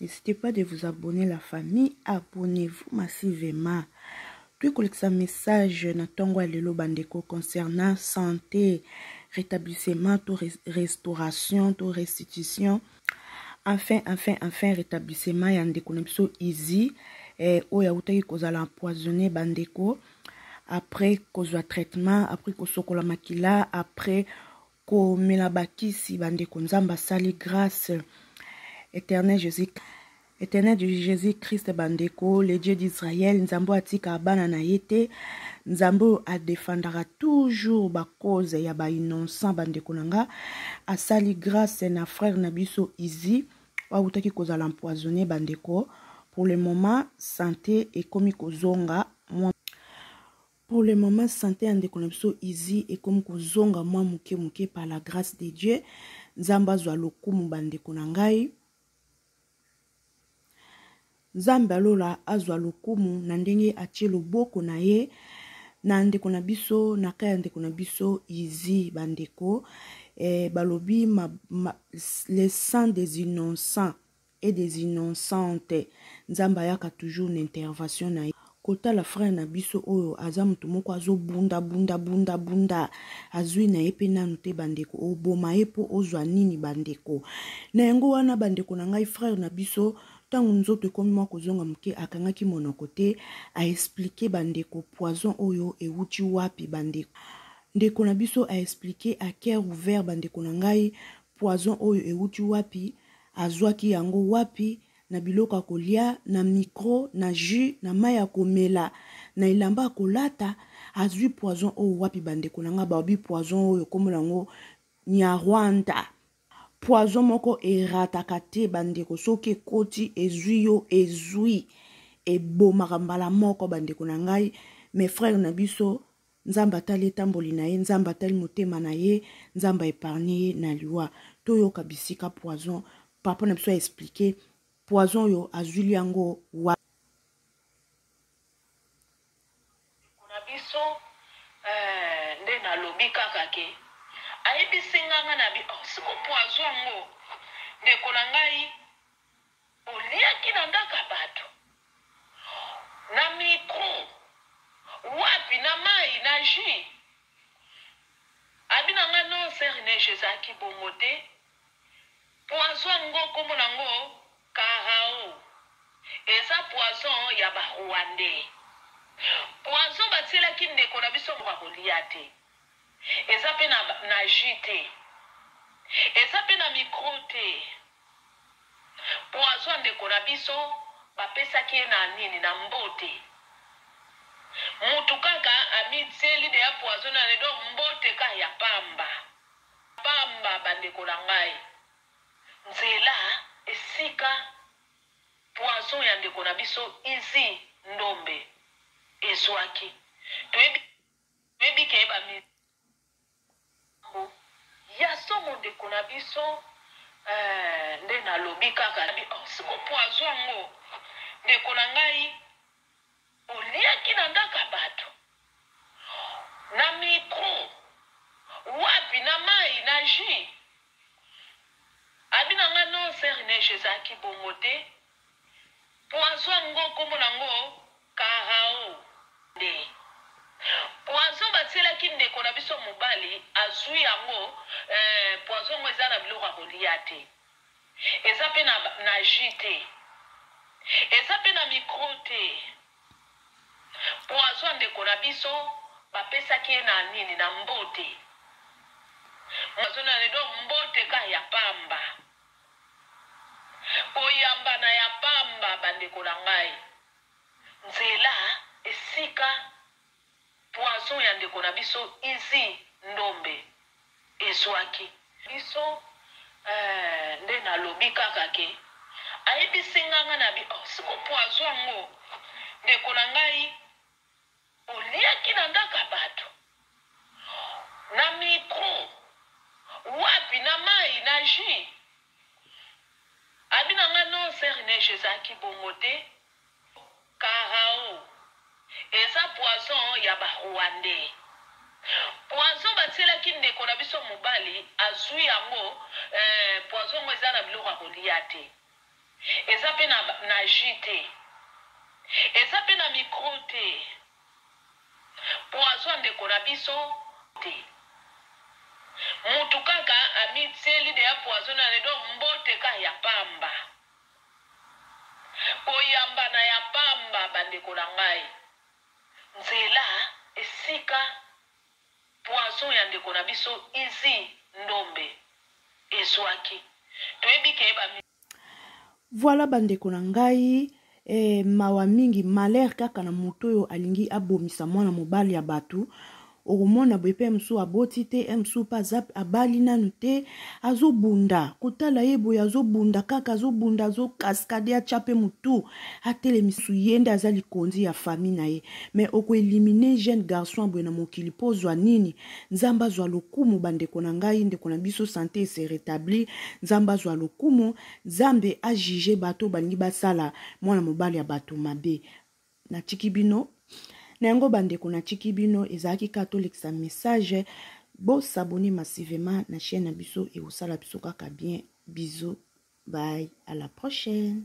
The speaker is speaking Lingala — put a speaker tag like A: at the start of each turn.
A: N'hésitez pas de vous abonner la famille, abonnez-vous massivement. Puis kolekisa message na tongo ya lelo bandeko concernant santé, rétablissement to restauration to restitution. Enfin, enfin, enfin rétablissement ya ndeko na biso Izi eh, oyo awutaki kozala empoisonné bandeko après kozwa traitement, après kosokola makila, après komela bakisi bandeko nzambe asali grâce éternel jésus éternel du jésus christ bandeko le dieu d'israël nzambe oyo atika bana na ye te nzambe oyo adefandaka toujours bacause ya bainnocent bandeko na nga asali grâce na frère na biso izi oyo autaki kozala empoisonne bandeko pour le moment sante ekomi kozonga mwa Pour le moment, sante ya ndeko na biso Izi ekomi kozonga mwa moke moke par la grâce de Dieu. Nzambe azwa lokumu bandeko na ngai. Nzambe alola azwa lokumu na ndenge atie loboko na ye na ndeko na biso na kai ya ndeko na biso Izi bandeko eh, balobi ma, ma, le sang des innocents et des innocentes nzambe ayaka toujours na intervention na ye kotala frère na biso oyo aza moto moko azobunda bunda bunda bunda azwi na ye mpe nanu te bandeko oboma ye mpo ozwa nini bandeko na yango wana bandeko na ngai frère na biso ntango nzoto ekomi mwa kozonga moke akangaki monoko te aexplike bandeko poison oyo ewuti wapi bandeko ndeko na biso aexplike a cœur ouvert bandeko na ngai Poison oyo ewuti wapi? Azwaki yango wapi? Na biloko ya kolia, na micro, na jus, na mayi ya komela, na elamba ya kolata. Azwi poison oyo wapi bandeko na nga? Baobi poison oyo kombo na ngo Nyarwanda. Poison moko erataka te bandeko, soki ekoti ezwi yo ezwi. Ebomaka mbala moko bandeko na ngai. Mes frères na biso Nzambe atali etamboli na ye, Nzambe atali motema na ye, Nzambe a épargner ye na liwa. Toyoka bisika poison papa na biso a expliquer poison oyo azwili yango wa biso euh, nde
B: nalobi kaka ke ayebisi nganga na bi oh, siko poison yango ndeko na ngai Oliaki na ndako ya bato, na micro, wapi, na mayi, na jus? Abi na nga non sœur Neige ezalaki bongo te, poison yango kombo na ngo Carao, eza poison ya ba Rwandais, poison batielaki ndeko na biso moko akolia te, eza pe na jus te, eza pe na micro te. Poison ndeko na biso ba pesaki ye na nini na mbote mutu kaka ami tieli deja poison na nez donc mbote kaka ya pamba pamba ba ndeko na ngai nzela esika poison ya ndeko na biso izi ndombe ezuaki toyebi ke ba. Makambu ya somo ndeko na biso eeh nde na lobi kaka na bino sikoyo poison yango ndeko na ngai oliaki na ndaku ya batu na micro wapi na mayi na jus? Abi na ngai non soeur neige ezalaki bongo te. Poison yango kombo na yango carao nde poison batielaki ndeko na biso mobali azui yango euh poison yango eza na biloko ya kolia te eza pe na na jus te eza pe na micro te poison ya ndeko na biso bapesaki ye na nini na mbote poison na donc mbote ka ya pamba. Koyambana ya pamba, bandeko na ngai. Nzela, esika poison ya ndeko na biso Izzy Ndombe ezuaki. Biso eh, nde nalobi kaka ke ayebisi nga, nga nabi oh siko poison yango ndeko na ngai. Oliaki na ngaka batu na micro wapi na mayi na jus abi na nga non sœur neige ezalaki bongo te carao eza poison ya ba rwandais poison batielaki ndeko na biso mobali azui yango eh poison ngo eza na biloko ya kolia te. Eza pe na na jus te eza pe na micro te poison ya ndeko na biso te mutu kaka amitieli deja poison na ye donc mbote ka ya pamba koyambana ya pamba bandeko na ngai nzela esika Poison ya ndeko na biso Izzy Ndombe ezuaki. Toyebi ke ba.
A: Voilà ba ndeko na ngai eh, mawa mingi malheur kaka na moto oyo alingi abomisa mwana mobali ya bato okomona boye mpe mosusu aboti te mosusu mpe aza abali nanu te azobunda kotala ye boye azobunda kaka azobunda azokaskade atya mpe motu atelemisu ye nde aza likonzi ya famille na ye mais okoelimine jeune garçon boye na mokili mpo ozwa nini nzambe azwa lokumu bandeko na ngai ndeko na biso sante ese rétablir nzambe azwa lokumu nzambe ajuge bato balingi basala mwana mobali ya bato mabe natiki bino na yango bandeko natiki bino ezalaki kaka tolekisa message bosabone massivement na chaîne na biso ekosala biso kaka bien biso bye à la prochaine